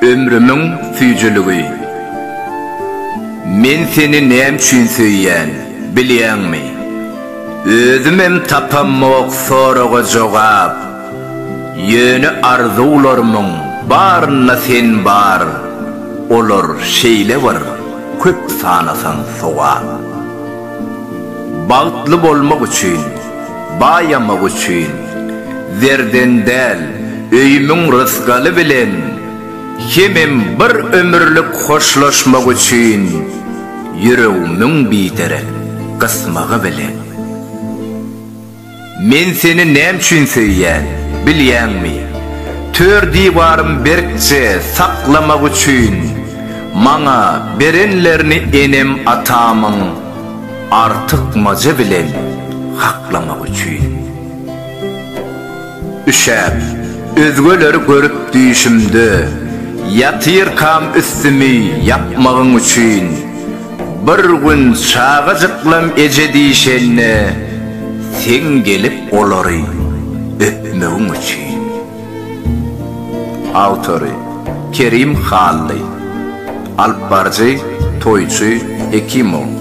Ömrümiň süýjüligi. Men seni näme üçin söýýän, bilýäňmi? Özümem tapamok soraga jogap. Ýöne arzuwlarymyň barynda sen bar, olar şeýle bir köp sanasaň sogap. Bagtly bolmak üçin, baýamak üçin, zerden däl, öýümiň rysgaly bilen hemem bir ömürlik hoşlaşmak üçin ýüregimiň biderek gysmagy bilen. Men seni näme üçin söýýän, bilýäňmi? Tör diwarym berkje saklamak üçin. Maňa berenlerini enem-atamyň artykmajy bilen haklamak üçin. Üşäp, özgeleri görüp düýşümde ýatyrkam üstümi ýapmagyň üçin. Bir gün çagajyklam eje diýşende seň gelip olary öpmegiň üçin. Awtory, Kerim Hally. Alypbaryjy, Toýçy Hekimow.